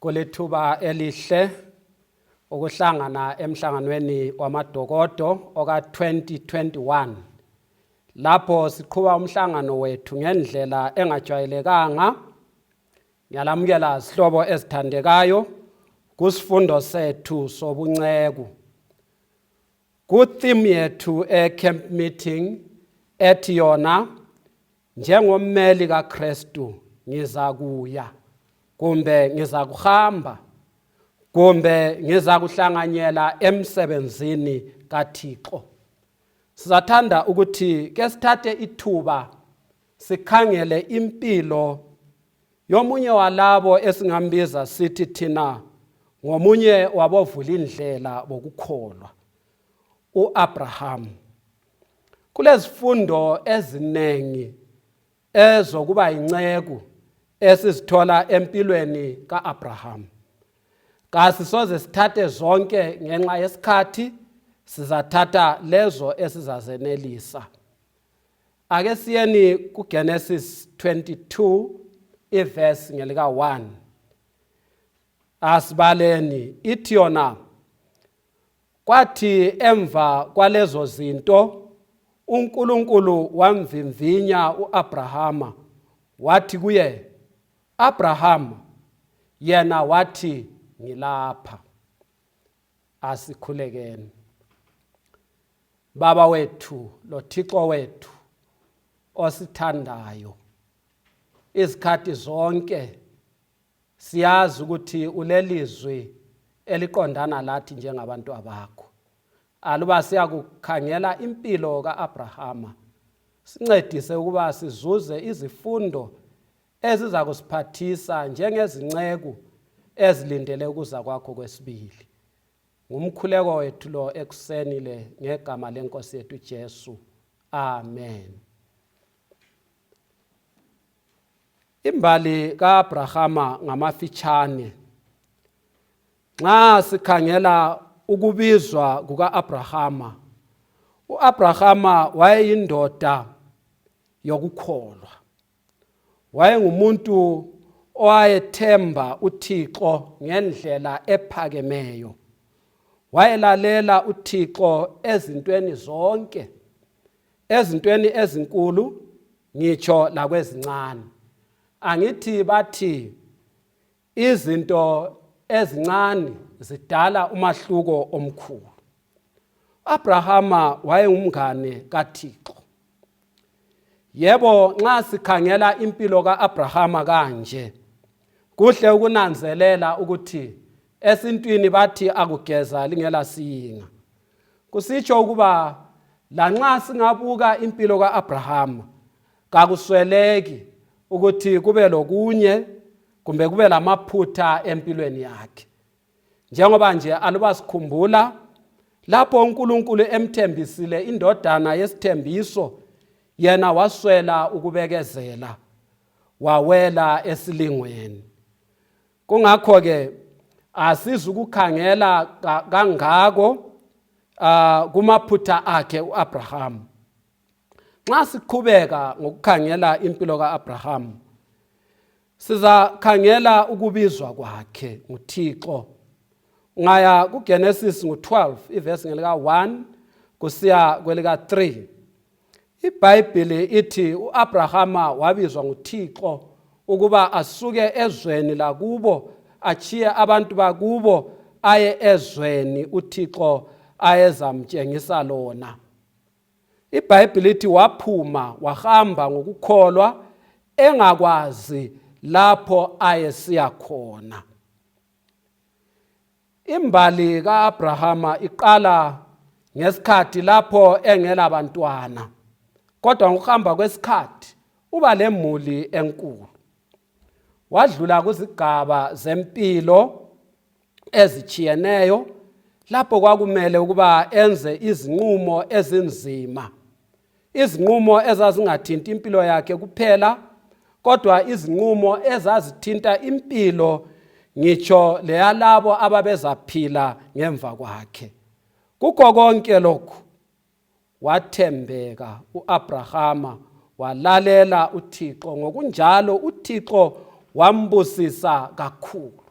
kulethuba elihle ukuhlangana emhlanganweni wamadokodo oka-2021 lapho siqhuba umhlangano wethu ngendlela engajwayelekanga ngiyalamukela zihlobo ezithandekayo kusifundo sethu sobunceku kutheme yethu e-camp meeting ethi yona njengommeli kaKristu ngiza kuya kumbe ngiza kuhamba kumbe ngiza kuhlanganyela emsebenzini kaThixo sizathanda ukuthi ke sithathe ithuba sikhangele impilo yomunye walabo esingambiza sithi thina ngomunye wabovula indlela bokukholwa uAbraham Kulezifundo ezinengi ezokuba yinceku esizithola empilweni ka-Abraham. Kasisoze sithathe zonke ngenxa yesikhathi sizathatha lezo esizazenelisa. Ake siyeni kuGenesis 22 iverse ngelika 1. Asibaleni ithi yona Kwathi emva kwalezo zinto uNkulunkulu wamvimvinya uAbrahama wathi kuye Abrahama yena wathi ngilapha asikhulekeni baba wethu lothixo wethu osithandayo izikhathi zonke siyazi ukuthi ulelizwi eliqondana lathi njengabantu abakho aluba siyakukhangela impilo ka-abrahama sincedise ukuba sizuze izifundo eziza kusiphathisa njengezinceku ezilindele ukuza kwakho kwesibili ngumkhuleko wethu lo ekuseni le ngegama lenkosi yethu Jesu amen Imbali kaAbrahama ngamafitshane. Nxa sikhangela ukubizwa kukaAbrahama, uAbrahama wayeyindoda yokukholwa. Wayengumuntu owayethemba uThixo ngendlela ephakemeyo. Wayelalela uThixo ezintweni zonke. ezintweni ezinkulu ngitsho lakwezincane angithi bathi izinto ezincane zidala umahluko omkhulu abrahama wayengumngane kathixo yebo nxa sikhangela impilo ka-abrahama kanje kuhle ukunanzelela ukuthi esintwini bathi akugeza lingela siyinga kusitsho ukuba lanxa singabuka impilo ka-abrahama kakusweleki ukuthi kube lokunye kumbe kube lamaphutha empilweni yakhe njengoba nje aluba sikhumbula lapho uNkulunkulu emthembisile indodana yesithembiso yena waswela ukubekezela wawela esilingweni kungakho-ke asizukukhangela kangako uh, kumaphutha akhe u-abrahamu nxa siqhubeka ngokukhangela impilo ka-abrahamu sizakhangela ukubizwa kwakhe nguthixo ngaya kugenesis ngu-12 ivesi ngelika-1 kusiya kwelika-3 ibhayibhili ithi u-abrahama wabizwa nguthixo ukuba asuke ezweni lakubo achiye abantu bakubo aye ezweni uthixo ayezamtshengisa lona ibhayibhili ithi waphuma wahamba ngokukholwa engakwazi lapho ayesiya khona Imbali ka-Abrahama iqala ngesikhathi lapho engela bantwana kodwa ngokuhamba kwesikhathi uba lemuli enkulu wadlula kuzigaba zempilo ezitshiyeneyo lapho kwakumele ukuba enze izinqumo ezinzima izinqumo ezazingathinti impilo yakhe kuphela kodwa izinqumo ezazithinta impilo ngitsho leyalabo ababezaphila ngemva kwakhe kukho konke lokhu wathembeka uAbrahama walalela uThixo ngokunjalo uThixo wambusisa kakhulu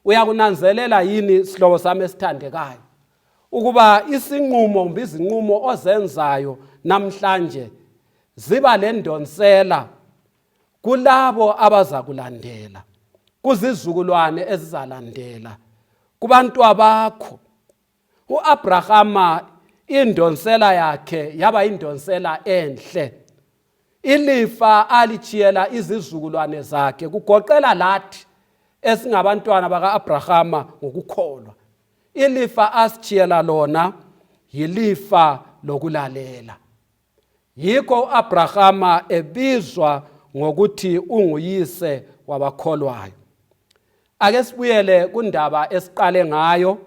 uyakunanzelela yini sihlobo sami esithandekayo ukuba isinqumo kumbe izinqumo ozenzayo namhlanje ziba lendonsela kulabo abazakulandela kuzizukulwane ezizalandela kubantwabakho uAbrahama indonsela yakhe yaba indonsela enhle ilifa alichiyela izizukulwane zakhe kugoqela lathi esingabantwana bakaAbrahama ngokukholwa ilifa asichiyela lona yilifa lokulalela yikho u-abrahama ebizwa ngokuthi unguyise wabakholwayo ake sibuyele kundaba esiqale ngayo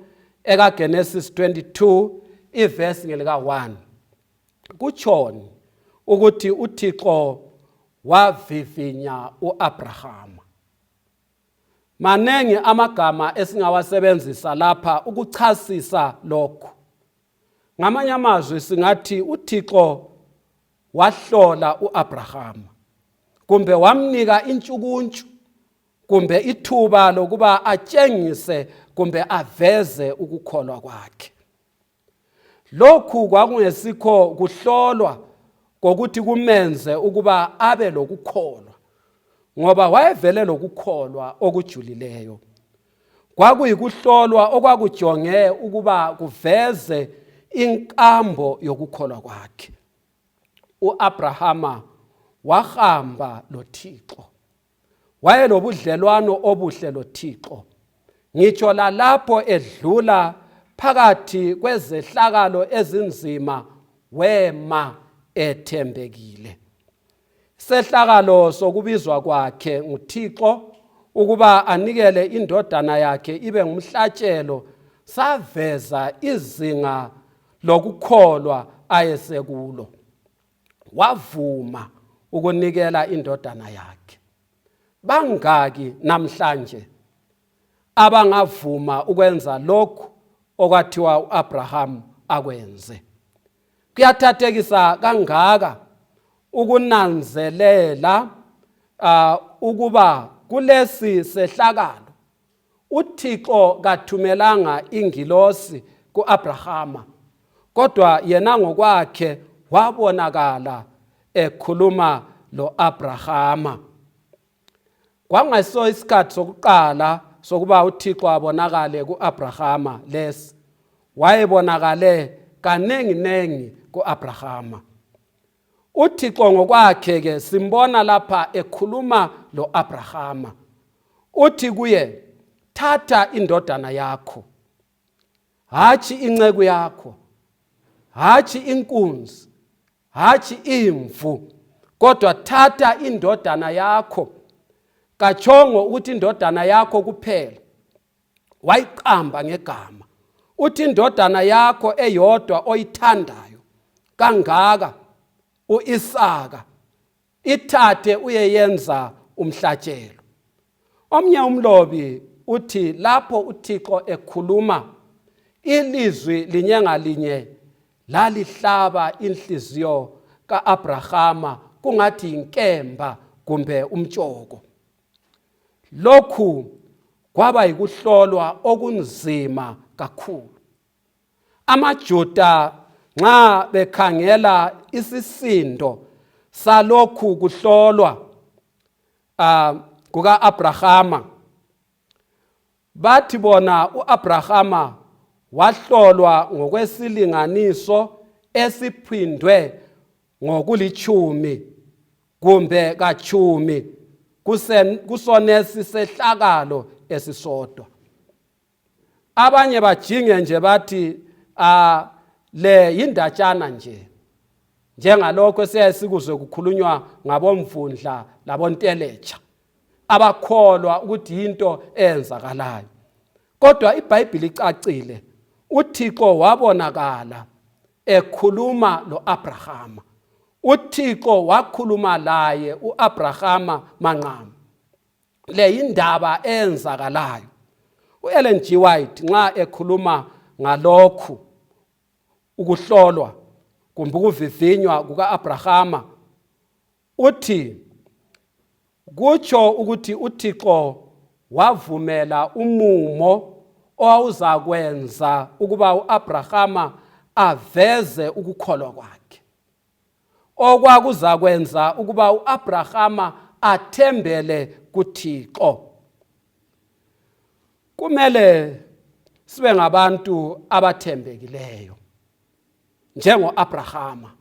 ekagenesis 22 ivesi ngelika-1 kutshoni ukuthi uthixo wavivinya u-abrahama maningi amagama esingawasebenzisa lapha ukuchasisa lokhu ngamanye amazwi singathi uthixo wahlola u-abrahama kumbe wamnika intshukuntshu kumbe ithuba lokuba atshengise kumbe aveze ukukholwa kwakhe lokhu kwakungesikho kuhlolwa kokuthi kumenze ukuba abe lokukholwa ngoba wayevele lokukholwa okujulileyo kwakuyikuhlolwa okwakujonge ukuba kuveze inkambo yokukholwa kwakhe uAbrahama wahamba loThixo wayelobudlelwano obuhle loThixo ngitsho lalapho edlula phakathi kwezehlakalo ezinzima wema ethembekile sehlakalo sokubizwa kwakhe nguthixo ukuba anikele indodana yakhe ibe ngumhlatshelo saveza izinga lokukholwa ayesekulo wavuma ukunikela indodana yakhe bangaki namhlanje abangavuma ukwenza lokhu okwathiwa uAbraham akwenze kuyathathekisa kangaka ukunanzelela uh, ukuba kulesi sehlakalo uthixo kathumelanga ingilosi ku-abrahama kodwa yena ngokwakhe wabonakala ekhuluma lo-abrahama kwangayiso isikhathi sokuqala sokuba uthixo abonakale ku-abrahama lesi wayebonakale kaninginingi ku-abrahama uthixo ngokwakhe-ke simbona lapha ekhuluma lo-abrahama uthi kuye thatha indodana yakho hatshi inceku yakho hatshi inkunzi hatshi imvu kodwa thatha indodana yakho katshongo ukuthi indodana yakho kuphela wayiqamba ngegama uthi indodana yakho eyodwa oyithandayo kangaka uIsaka ithathe uyeyenza umhlatshelo omnye umlobi uthi lapho uthixo ekhuluma ilizwi linye ngalinye lalihlaba inhliziyo ka-abrahama kungathi yinkemba kumbe umtshoko lokhu kwaba yikuhlolwa okunzima kakhulu AmaJuda nxa bekhangela isisindo salokhu kuhlolwa uh, kuka-Abrahama bathi bona u-Abrahama wahlolwa ngokwesilinganiso esiphindwe ngokulitshumi kumbe katshumi kusonesi sehlakalo esisodwa abanye bajinge nje bathi uh, le yindatshana nje njengalokho esiyaye sikuzwe kukhulunywa ngabomvundla labonteletsha abakholwa ukuthi yinto eyenzakalayo kodwa ibhayibhili icacile uthixo wabonakala ekhuluma lo-abrahama uthixo wakhuluma laye u-abrahama manqama le yindaba eyenzakalayo u-ellen g white nxa ekhuluma ngalokhu ukuhlolwa kumbe ukuvivinywa kuka-abrahama uthi kutsho ukuthi uthixo wavumela umumo owawuzakwenza ukuba u-abrahama aveze ukukholwa kwakhe okwakuzakwenza ukuba uAbrahama athembele kuThixo kumele sibe ngabantu abathembekileyo njengoAbrahama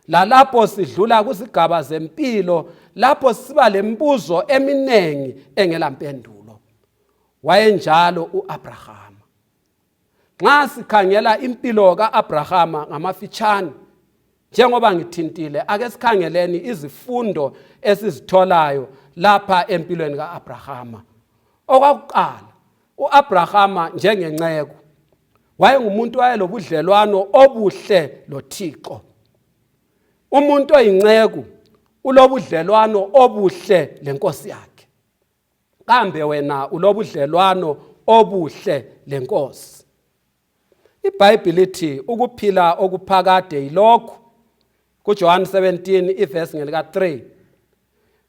lalapho sidlula kuzigaba zempilo lapho siba lembuzo eminingi engelampendulo wayenjalo uAbrahama nxa sikhangela impilo ka-abrahama ngamafitshane njengoba ngithintile ake sikhangeleni izifundo esizitholayo lapha empilweni ka-abrahama okwakuqala u-abrahama njengenceku wayengumuntu wayelobudlelwano obuhle lothixo umuntu oyinceku ulobudlelwano obuhle lenkosi yakhe kambe wena ulobudlelwano obuhle lenkosi ibhayibhili lithi ukuphila okuphakade yilokhu kujohane 17 ivesi ngelika-3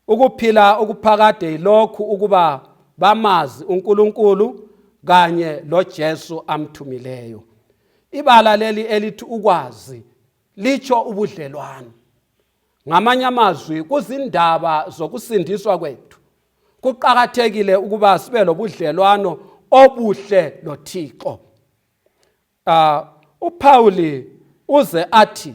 ukuphila okuphakade yilokhu ukuba bamazi unkulunkulu kanye lojesu amthumileyo ibala leli elithi ukwazi litsho ubudlelwano ngamanye amazwi kuzindaba zokusindiswa kwethu kuqakathekile ukuba sibe lobudlelwano obuhle lothixo uh, uphawuli uze athi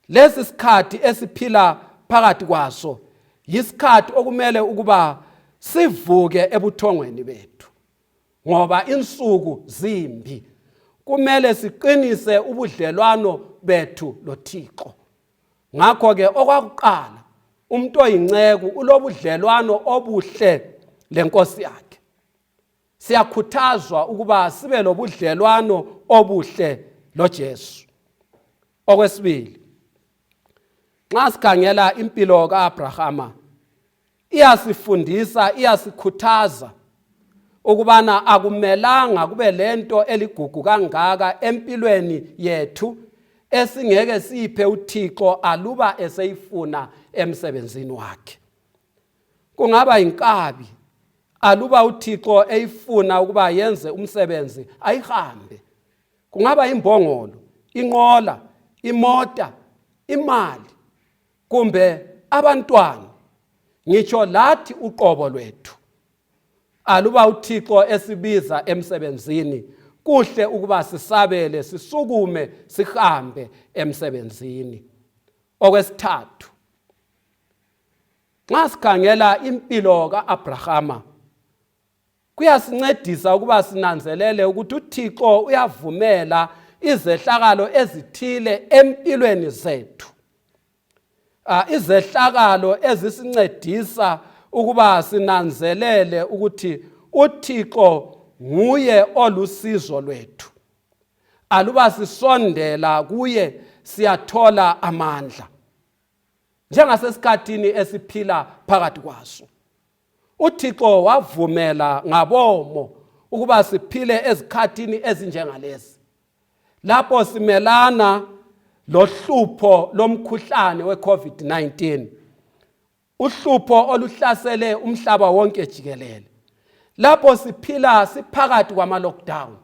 lesi sikhathi esiphila phakathi kwaso yisikhathi okumele ukuba sivuke ebuthongweni bethu ngoba insuku zimbi kumele siqinise ubudlelwano bethu lothixo ngakho-ke okwakuqala umuntu oyinceku ulobudlelwano obuhle lenkosi yakhe siyakhuthazwa ukuba sibe lobudlelwano obuhle lojesu okwesibili nxa sikhangela impilo ka-abrahama iyasifundisa iyasikhuthaza ukubana akumelanga kube lento eligugu kangaka empilweni yethu esingeke siphe uThixo aluba eseyifuna emsebenzini wakhe kungaba inkabi aluba uThixo eyifuna ukuba yenze umsebenzi ayihambe kungaba imbongolo inqola imota imali kumbe abantwana ngitsho lathi uqobo lwethu aluba uthixo esibiza emsebenzini kuhle ukuba sisabele sisukume sihambe emsebenzini okwesithathu nxa sikhangela impilo ka-abrahama kuyasincedisa ukuba sinanzelele ukuthi uthixo uyavumela izehlakalo ezithile empilweni zethu ah, izehlakalo ezisincedisa ukuba sinanzelele ukuthi uthixo nguye olusizo lwethu aluba sisondela kuye siyathola amandla njengasesikhathini esiphila phakathi kwaso uthixo wavumela ngabomo ukuba siphile ezikhathini ezinjengalezi lapho simelana lohlupho lomkhuhlane weCovid-19 uhlupho oluhlasele umhlaba wonke jikelele lapho siphila siphakathi kwama-lockdown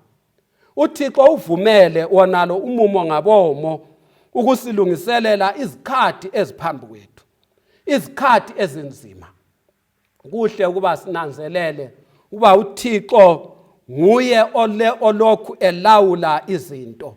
uthixo uvumele wonalo umumo ngabomo ukusilungiselela izikhathi eziphambi kwethu izikhathi ezinzima kuhle ukuba sinanzelele uba uthixo nguye olokhu elawula izinto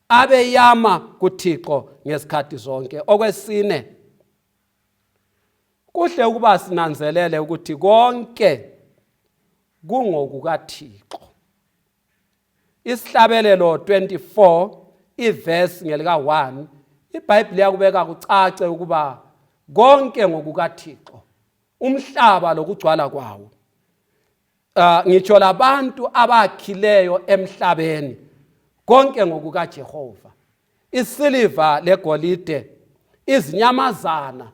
abeyama kuThixo ngesikhathi zonke okwesine kuhle ukuba sinanzelele ukuthi konke kungokukaThixo isihlabelelo 24 ivesi ngelika 1 ibhayibhile yakubeka kucace ukuba konke ngokukaThixo umhlaba lokugcwala kwawo uh, ngitsho labantu abakhileyo emhlabeni konke ngokukajehova isiliva legolide izinyamazana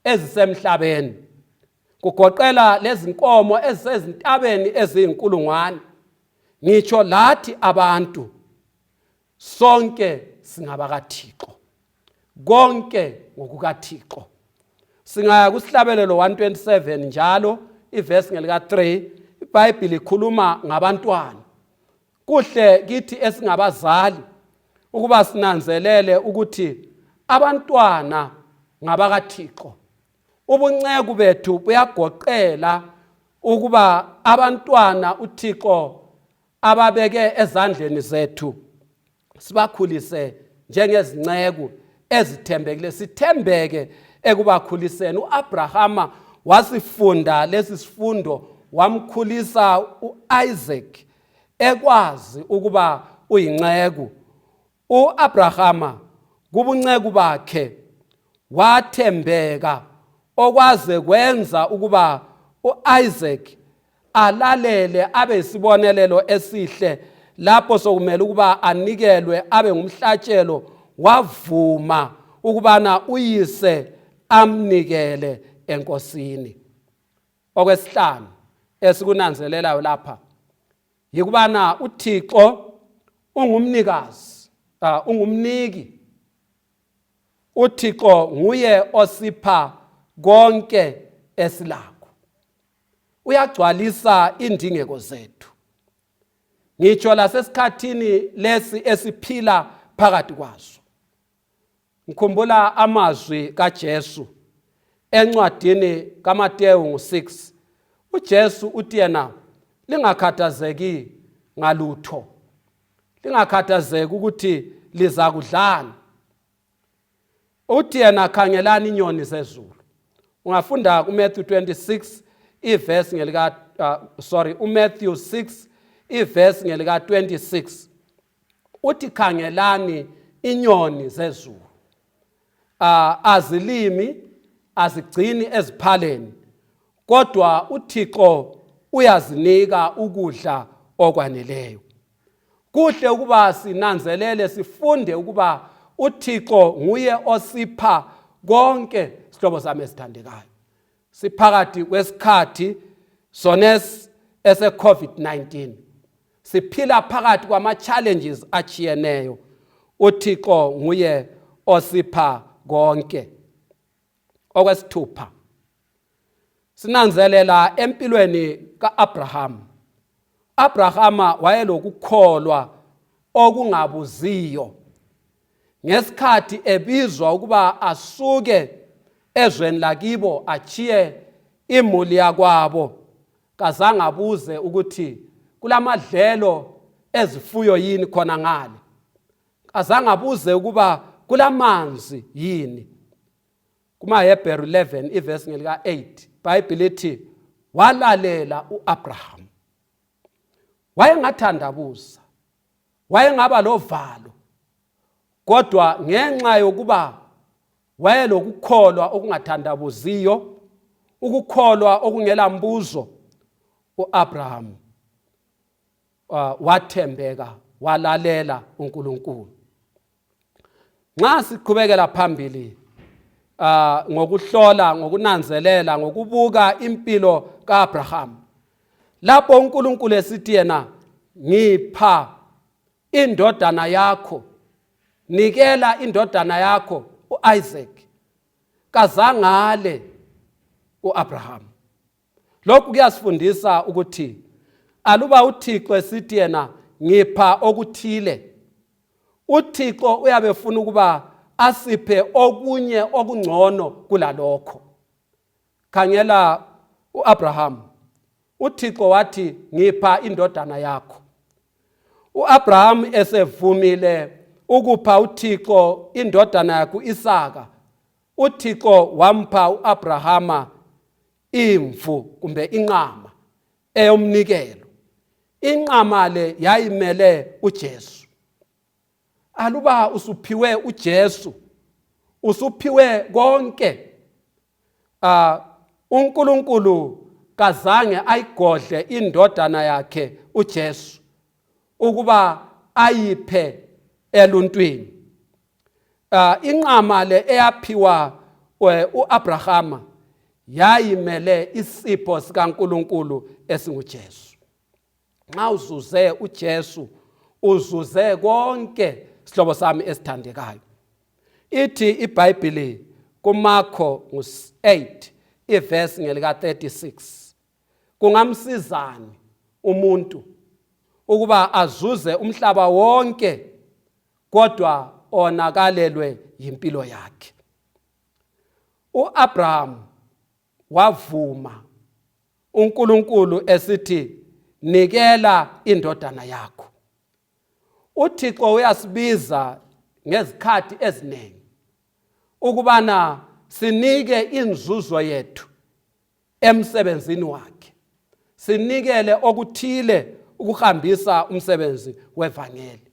ezisemhlabeni kugoqela lezinkomo ezisezintabeni eziyinkulungwane ngitsho lathi abantu sonke singabakathixo konke ngokukathixo singaya kusihlabelelo 127 njalo ivesi ngelika-3 ibhayibhile ikhuluma ngabantwana kuhle kithi esingabazali ukuba sinanzelele ukuthi abantwana ngabakathixo ubunceku bethu buyagoqela ukuba abantwana uthixo ababeke ezandleni zethu sibakhulise njengezinceku ezithembekile sithembeke ekubakhuliseni uAbrahama wasifunda lesi sifundo wamkhulisa uIsaac ekwazi ukuba uyinceku U-Abrahama kubunceku bakhe wathembeka okwaze kwenza ukuba u-Isaac alalele abe isibonelelo esihle lapho sokumele ukuba anikelwe abe ngumhlatshelo wavuma ukubana uyise amnikele enkosini okwesihlanu esikunanzelelayo lapha yikubana uthixo ungumnikazi uh, ungumniki uthixo nguye osipha konke esilakho uyagcwalisa indingeko zethu ngitsho lasesikhathini lesi esiphila phakathi kwaso ngikhumbula amazwi kaJesu encwadini kaMateyu ngo-6 uJesu uthi yena lingakhathazeki ngalutho lingakhathazeki ukuthi liza kudlani uthi yena khangelani inyoni zezulu ungafunda kuMatthew 26 iverse ngelika uh, sorry uMatthew 6 iverse ngelika 26 uthi khangelani inyoni zezulu uh, azilimi azigcini eziphaleni kodwa uthixo uyazinika ukudla okwaneleyo kuhle ukuba sinanzelele sifunde ukuba uthixo nguye osipha konke sihlobo sami esithandekayo siphakathi kwesikhathi sones ese-covid-19 siphila phakathi kwama-challenges achiyeneyo uthixo nguye osipha konke okwesithupha sinanzelela empilweni ka-abrahama abrahama wayelokukholwa okungabuziyo ngesikhathi ebizwa ukuba asuke ezweni lakibo achiye imuli yakwabo kazange abuze ukuthi kulamadlelo ezifuyo yini khona ngale kazange abuze ukuba kulamanzi yini kumahebheru 11 ivesi ngelika-8 bhayibhile ithi walalela u-abrahamu wayengathandabuza wayengaba lovalo kodwa ngenxa yokuba wayelokukholwa okungathandabuziyo ukukholwa okungela mbuzo uAbraham uh, wathembeka walalela uNkulunkulu nxa siqhubekela phambili uh, ngokuhlola ngokunanzelela ngokubuka impilo kaAbraham lapho uNkulunkulu esithi yena ngipha indodana yakho nikela indodana yakho uIsaac kazangale uAbraham lokhu kuyasifundisa ukuthi aluba uThixo esithi yena ngipha okuthile uThixo uyabe funa ukuba asiphe okunye okungcono kulalokho khangela uAbraham uThixo wathi ngipha indodana yakho uAbraham esevumile ukupha uThixo indodana yakhe uIsaka uThixo wampha uAbrahama imvu kumbe inqama eyomnikelo inqama le yayimele uJesu aluba usuphiwe uJesu usuphiwe konke ah uNkulunkulu kazange ayigodle indodana yakhe uJesu ukuba ayiphe eluntwini ah inqama le eyaphiwa eh, uAbrahama yayimele isipho sikaNkuluNkulu esinguJesu nxa uzuze uJesu uzuze konke sihlobo sami esithandekayo ithi ibhayibhili kumakho ngu-8 ivesi ngelika-36 kungamsizani umuntu ukuba azuze umhlaba wonke kodwa onakalelwe yimpilo yakhe uAbraham wavuma uNkulunkulu esithi nikela indodana yakho uThixo uyasibiza ngezikhathi eziningi ukubana sinike inzuzo yethu emsebenzini wakhe sinikele okuthile ukuhambisa umsebenzi wevangeli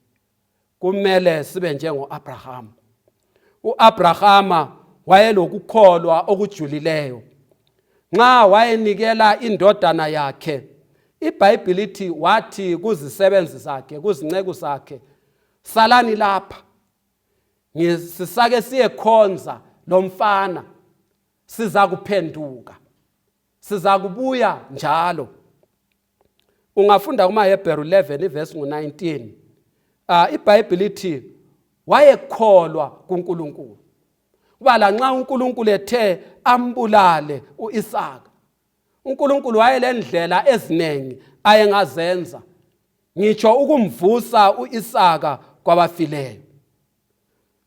kumele sibe njengo-abrahama u-abrahama wayelokukholwa okujulileyo nxa wayenikela indodana yakhe ibhayibhili ithi wathi kuzisebenzi zakhe kuzinceku zakhe salani lapha sisake siyekhonza lo mfana siza kuphenduka siza kubuya njalo ungafunda kumaHebheru 11 ivesi ngu-19 uh, ah, ibhayibhili ithi wayekholwa kuNkulunkulu kuba lanxa uNkulunkulu ethe ambulale uIsaka uNkulunkulu wayelendlela eziningi ayengazenza ngitsho ukumvusa uIsaka kwabafileyo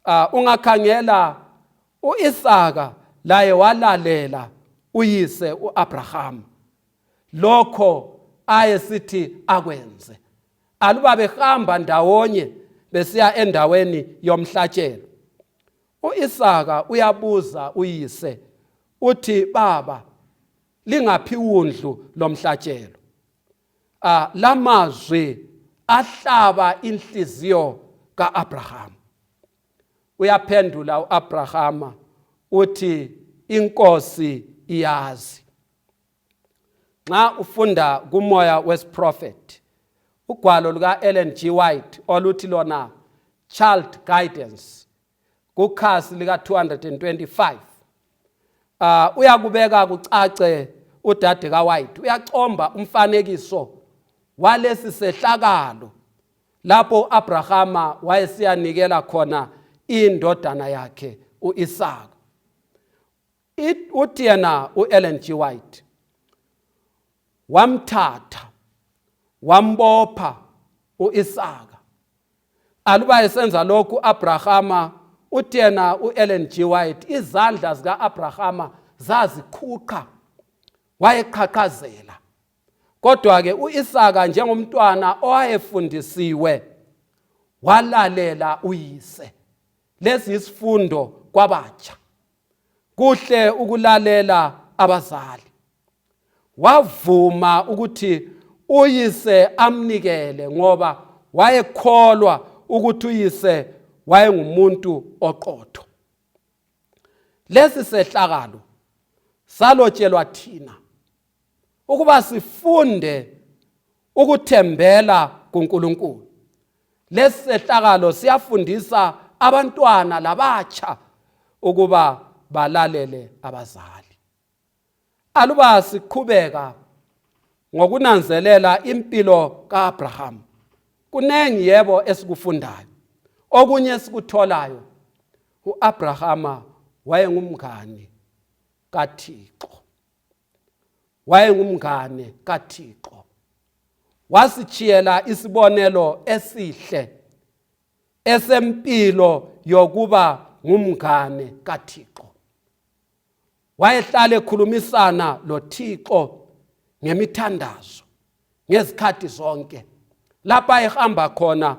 uh, ungakhangela uIsaka laye walalela uyise uAbraham lokho ayesithi akwenze aluba behamba ndawonye besiya endaweni yomhlatshelo uIsaka uyabuza uyise uthi baba lingaphi undlu lomhlatshelo uh, lamazwi ahlaba inhliziyo ka-abrahama uyaphendula u-abrahama uthi inkosi iyazi nxa ufunda kumoya wesiprofethi ugwalo luka-ellen g white oluthi lona child guidance kukhasi lika-225 uh, uyakubeka kucace udade kawhite uyacomba umfanekiso walesi sehlakalo lapho u-abrahama wayesiyanikela khona indodana yakhe u-isaka uthi yena u-ellen g white wamthatha wambopha u-isaka aluba esenza lokhu u-abrahama uthi yena u-ellen g white izandla zika-abrahama zaziqhuqha wayeqhaqhazela kodwa-ke u-isaka njengomntwana owayefundisiwe walalela uyise lesi yisifundo kwabatsha kuhle ukulalela abazali wavuma ukuthi uyise amnikele ngoba wayekholwa ukuthi uyise wayengumuntu oqotho lesi sehlakalo salotshelwa thina ukuba sifunde ukuthembela kuNkulunkulu lesi sehlakalo siyafundisa abantwana labatsha ukuba balalele abazali aluba siqhubeka ngokunanzelela impilo kaAbraham kuningi yebo esikufundayo okunye esikutholayo uAbrahama wayengumngani kaThixo wayengumngane kaThixo wasitshiyela isibonelo esihle esempilo yokuba ngumngane kaThixo wayehlale khulumisana loThixo ngemithandazo ngezikhathi zonke lapha ehamba khona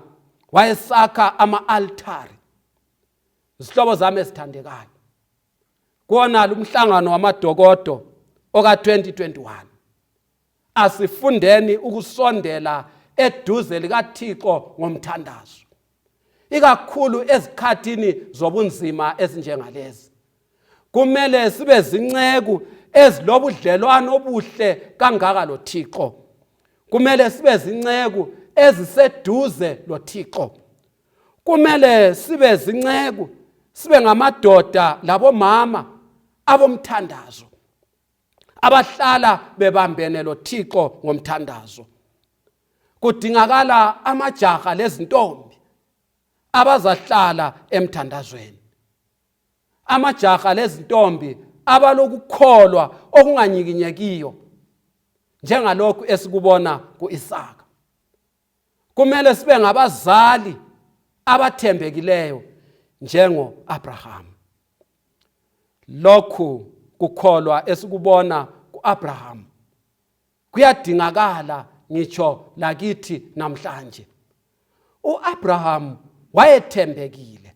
wayesakha ama-altari zihlobo zami ezithandekayo kuwonalo umhlangano wamadokodo oka-2021 asifundeni ukusondela eduze likathixo ngomthandazo ikakhulu ezikhathini zobunzima ezinjengalezi kumele sibe zinceku ezilobudlelwano obuhle kangaka lothixo kumele sibe zinceku eziseduze lothixo kumele sibe zinceku sibe ngamadoda labomama abomthandazo abahlala bebambene lothixo ngomthandazo kudingakala amajaha lezintombi abazahlala emthandazweni amajaha lezintombi abalokukholwa okunganyikinyekiyo njengalokhu esikubona ku-isaka kumele sibe ngabazali abathembekileyo njengo-abrahamu lokhu kukholwa esikubona ku-abrahamu kuyadingakala ngitsho lakithi namhlanje u-abrahamu wayethembekile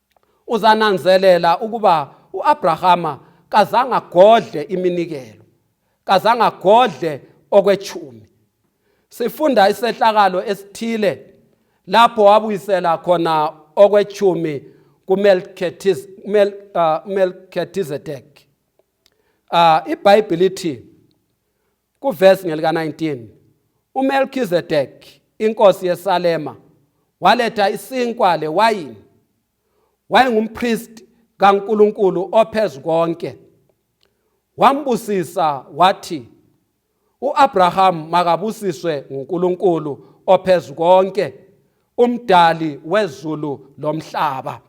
uzananzelela ukuba uAbrahama kazange agodle iminikelo kazange agodle okwechumi sifunda isehlakalo esithile lapho wabuyisela khona okwechumi kuMelchizedek uh, uh, ibhayibhili ithi Kuvesi ngelika-19 uMelkizedeki inkosi yeSalema waletha isinkwa lewayini wayengumpristi kaNkulunkulu ophezu konke wambusisa wathi uAbraham makabusiswe nguNkulunkulu ophezu konke umdali wezulu lomhlaba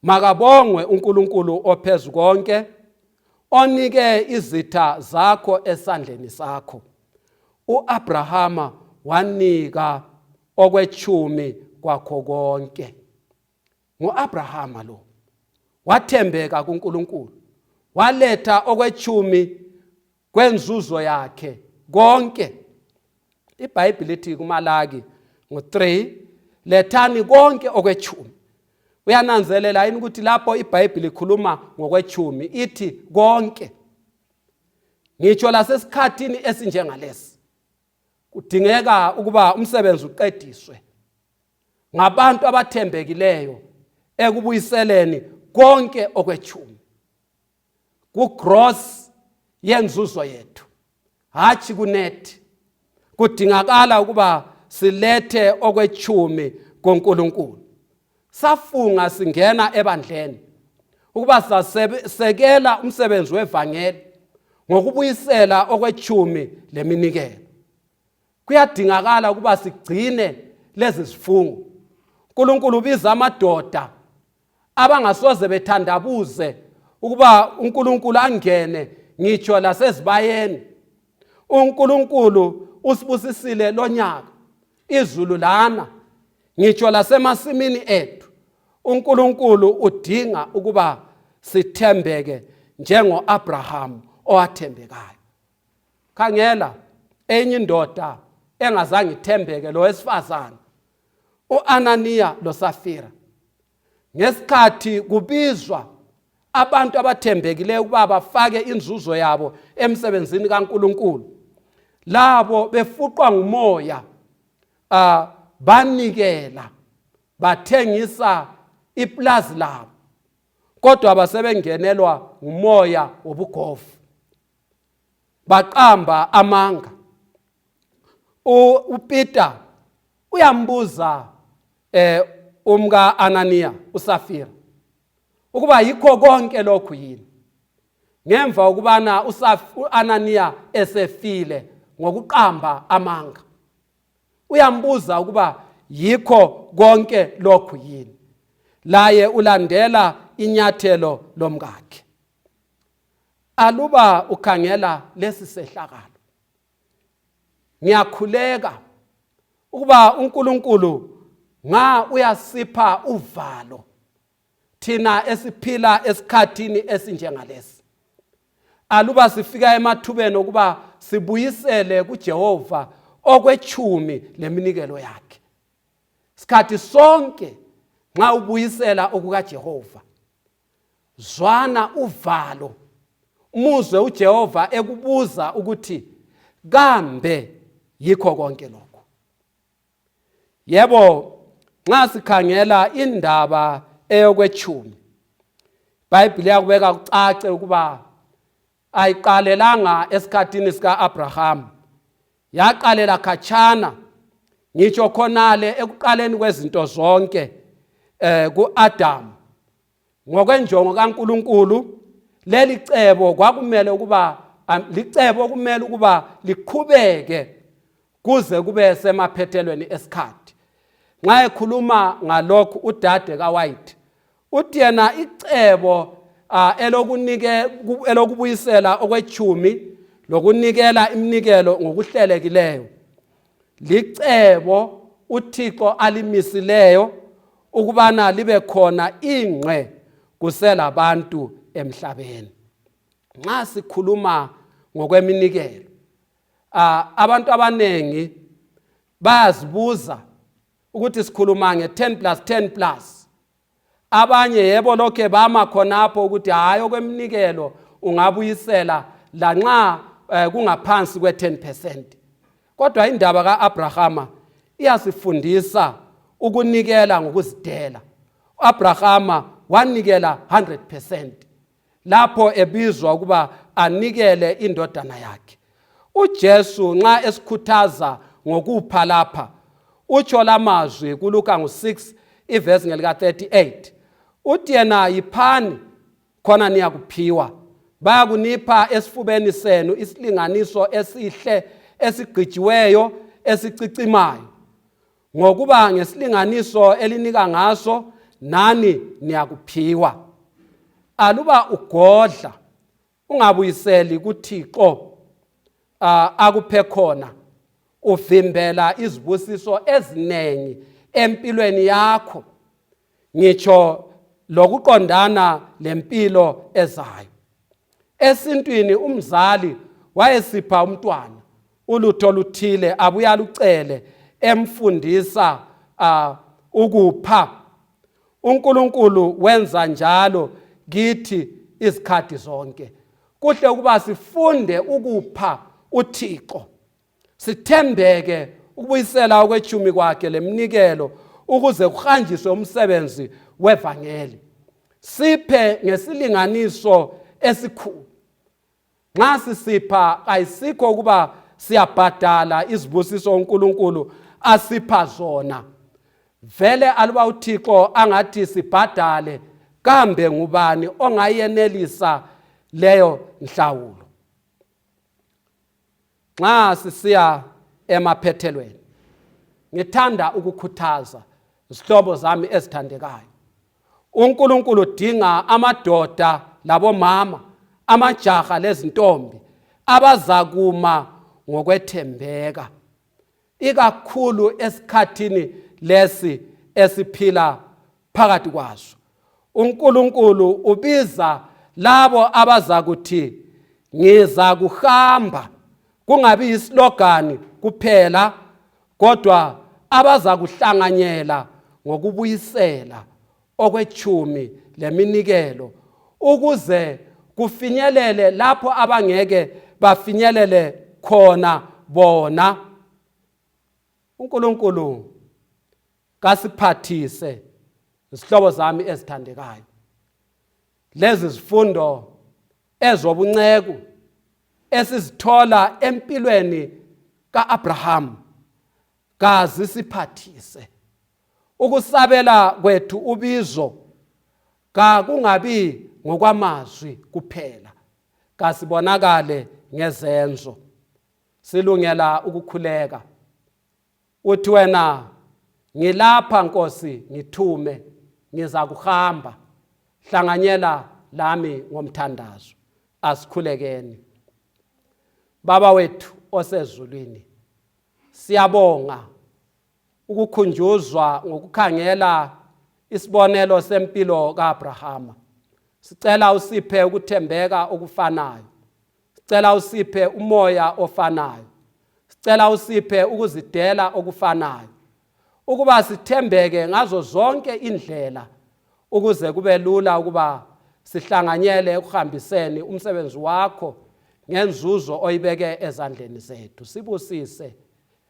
makabongwe uNkulunkulu ophezu konke onike izitha zakho esandleni sakho uAbrahama wanika okwechumi kwakho konke nguAbrahama lo wathembeka kuNkulunkulu waletha okwechumi kwenzuzo yakhe konke ibhayibhile ithi kumalaki ngo-3 lethani konke okwechumi uyananzelela yini ukuthi lapho ibhayibhile ikhuluma ngokwechumi ithi konke ngitsho lasesikhathini esinjengalesi kudingeka ukuba umsebenzi uqediswe ngabantu abathembekileyo ekubuyiseleni konke okwechumi kugross yenzuzo yethu hatshi kunethi kudingakala ukuba silethe okwechumi koNkulunkulu safunga singena ebandleni ukuba sasekela umsebenzi wevangeli ngokubuyisela okwechumi leminikelo kuyadingakala ukuba sigcine lezi zifungo uNkulunkulu ubiza amadoda abangasoze bethandabuze ukuba uNkulunkulu angene ngitsho lasezibayeni uNkulunkulu usibusisile lonyaka izulu lana ngitsho lasemasimini ethu uNkulunkulu udinga ukuba sithembeke njengoAbraham owathembekayo khangela enye indoda engazange ithembeke lo wesifazane uAnaniya loSafira ngesikhathi kubizwa abantu abathembekileyo ukuba bafake inzuzo yabo emsebenzini kaNkuluNkulu labo befuqwa ngumoya uh, banikela bathengisa iplazi labo kodwa basebengenelwa ngumoya wobugovu baqamba amanga uPeter uyambuza eh umka Anania uSafira ukuba yikho konke lokhu yini ngemva ukubana uAnania esefile ngokuqamba amanga uyambuza ukuba yikho konke lokhu yini laye ulandela inyathelo lomkakhe aluba ukhangela lesi sehlakalo ngiyakhuleka ukuba uNkulunkulu nga uyasipha uvalo thina esiphila esikhathini esinjengalesi aluba sifika emathubeni okuba sibuyisele kuJehova okwechumi leminikelo yakhe sikhathi sonke nxa ubuyisela okukaJehova zwana uvalo muzwe uJehova ekubuza ukuthi kambe yikho konke lokho yebo nxa sikhangela indaba eyokwetshumi ibhayibhile yakubeka kucace ukuba ayiqalelanga esikhathini sika-abrahamu yaqalela khatshana ngitsho khonale ekuqaleni kwezinto zonke eh kuAdam ngokwenjongo kaNkuluNkulu leli cebo kwakumele ukuba licebo okumele ukuba liqhubeke kuze kube semaphethelweni esikhathi nxa ekhuluma ngalokhu udade kawhite uthi yena icebo elokubuyisela okwechumi lokunikela iminikelo ngokuhlelekileyo licebo uthixo alimisileyo ukubana libe khona ingqe kuselabantu emhlabeni nxa sikhuluma ngokweminikelo abantu abanengi bayazibuza ukuthi sikhuluma nge-10 plus 10 plus abanye yebo lokhe bama khonapho ukuthi hhayi okweminikelo ungabuyisela lanxa um kungaphansi kwe-10 percent kodwa indaba ka-abrahama iyasifundisa ukunikela ngokuzidela u-abrahama wanikela 100 percent lapho ebizwa ukuba anikele indodana yakhe uJesu nxa esikhuthaza ngokupha lapha utsho lamazwi kuLuka ngo6 ivesi ngelika 38 uthi yena yiphani khona niyakuphiwa bayakunipha esifubeni senu isilinganiso esihle esigqijiweyo esicicimayo ngokuba ngesilinganiso elinika ngaso nani niyakuphiwa aluba ugodla ungabuyiseli kuthixo akuphe khona uvimbela izibusiso eziningi empilweni yakho ngitsho lokuqondana lempilo ezayo esintwini umzali wayesipha umntwana ulutho oluthile abuye alucele emfundisa uh, ukupha unkulunkulu wenza njalo kithi izikhathi zonke kuhle ukuba sifunde ukupha uthixo sithembeke ukubuyisela okwetshumi kwakhe lemnikelo ukuze kuhanjiswe umsebenzi wevangeli siphe ngesilinganiso esikhulu nxa sisipha ayisikho ukuba siyabhadala izibusiso uNkulunkulu asipha zona vele aluba uThixo angathi sibhadale kambe ngubani ongayenelisa leyo nhlawulo nxa sisiya emaphethelweni ngithanda ukukhuthaza zihlobo zami ezithandekayo uNkulunkulu udinga amadoda labomama amajaha lezintombi abazakuma ngokwethembeka ikakhulu esikhathini lesi esiphila phakathi kwaso uNkulunkulu ubiza labo abazakuthi ngiza kuhamba kungabi yislogani kuphela kodwa abazakuhlanganyela ngokubuyisela okwetshumi leminikelo ukuze kufinyelele lapho abangeke bafinyelele khona bona uNkulunkulu kasiphathise izihlobo zami ezithandekayo lezi zifundo ezobunceku esizithola empilweni kaAbraham kazisiphathise Ukusabela kwethu ubizo kakungabi ngokwamazwi kuphela, kasibonakale ngezenzo. Silungela ukukhuleka. Uthi wena ngilapha Nkosi ngithume ngiza kuhamba hlanganyela lami ngomthandazo asikhulekeni baba wethu osezulwini siyabonga ukukhunjuzwa ngokukhangela isibonelo sempilo kaAbrahama sicela usiphe ukuthembeka okufanayo sicela usiphe umoya ofanayo sicela usiphe ukuzidela okufanayo ukuba sithembeke ngazo zonke indlela ukuze kube lula ukuba sihlanganyele ekuhambiseni umsebenzi wakho ngenzuzo oyibeke ezandleni zethu sibusise